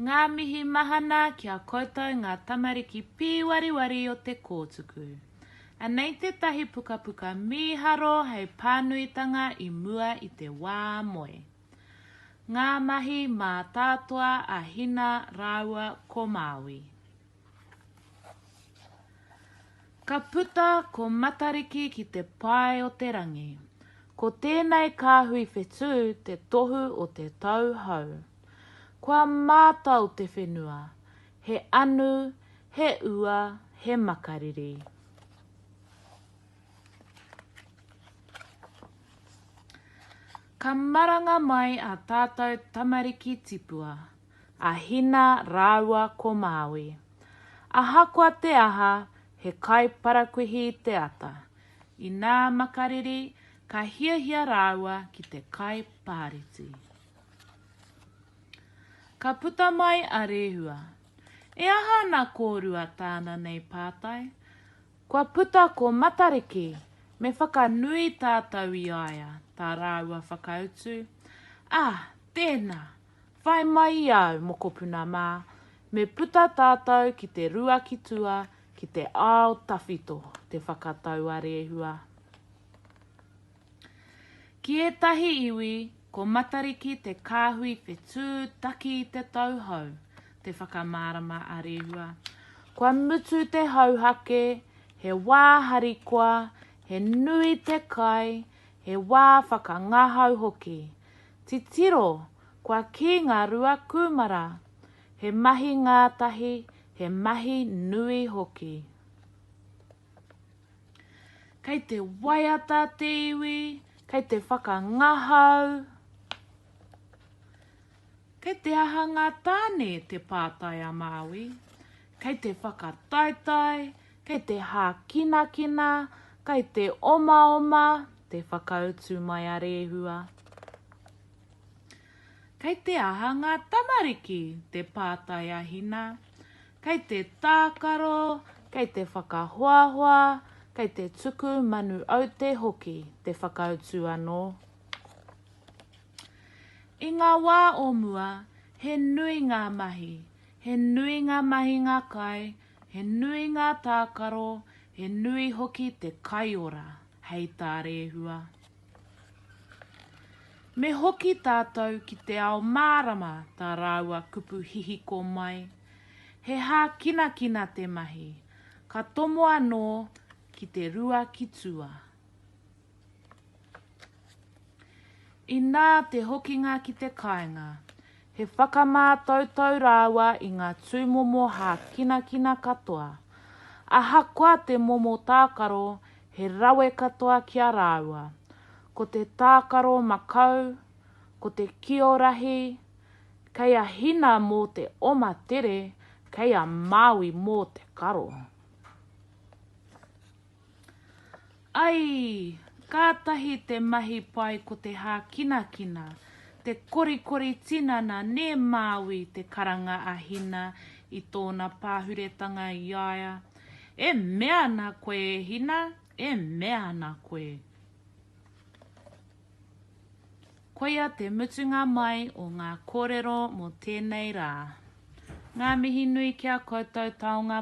Ngā mihi mahana ki a koutou ngā tamariki pīwariwari o te kōtuku. Anei tētahi pukapuka mīharo hei pānuitanga i mua i te wā moe. Ngā mahi mātātoa a Hina rāua ko Māui. Ka puta ko Matariki ki te pae o te rangi. Ko tēnei kāhui whetū te tohu o te tau hau. Kua mātau te whenua, he anu, he ua, he makariri. Ka maranga mai ā tātou tamariki tipua, a Hina rāua ko Māui. Ahakoa te aha, he kaiparakuihi te ata. Inā makariri, ka hiahia rāua ki te kai pāreti. Ka puta mai a Rehua. E aha ana kōrua tāna nei pātai? Kua puta ko Matariki, me whakanui tātou i a ia, tā rāua whakautu. Ah, tēnā! Whai mai i au, mokopuna mā, me puta tātou ki te rua ki tua, ki te ao tawhito, te whakatau a Rehua. Ki ētahi iwi, ko Matariki te kāhui whetū taki i te tauhou, te whakamārama a Rehua. Kua mutu te hauhake, he wā harikoa, he nui te kai, he wā whakangahau hoki. Titiro, kua kī ngā rua kūmara, he mahi ngātahi, he mahi nui hoki. Kei te waiata te iwi, kei te whakangahau. Kei te aha ngā tāne te pātai a Māui, kei te whakataetae, Kei te hākinakina, kei te omaoma te whakautu mai a Rehua. Kei te aha ngā tamariki? te pātai a Hina. Kei te tākaro, kei te whakahoahoa, kei te tuku manu aute hoki, te whakautu anō. I ngā wā o mua, he nui ngā mahi, he nui ngā mahinga kai, He nui ngā tākaro, he nui hoki te kaiora, hei tā Rehua. Me hoki tātou ki te ao mārama tā rāua kupu hihiko mai. He hākinakina te mahi, ka tomo anō ki te rua ki tua. Inā te hokinga ki te kāinga, he whakamātautau rāua i ngā tūmomo hākinakina katoa. Ahakoa te momo tākaro, he rawe katoa ki a rāua. Ko te tākaro makau, ko te kio rahi, kei a Hina mō te oma tere, kei a Māui mō te karo. Ai! Kātahi te mahi pai ko te hākinakina, te korikori tinana nē Māui te karanga a Hina i tōna pāhuretanga i a ia. E mea ana koe e Hina, e mea ana koe. Koia te mutunga mai o ngā kōrero mō tēnei rā. Ngā mihi nui ki a koutou taonga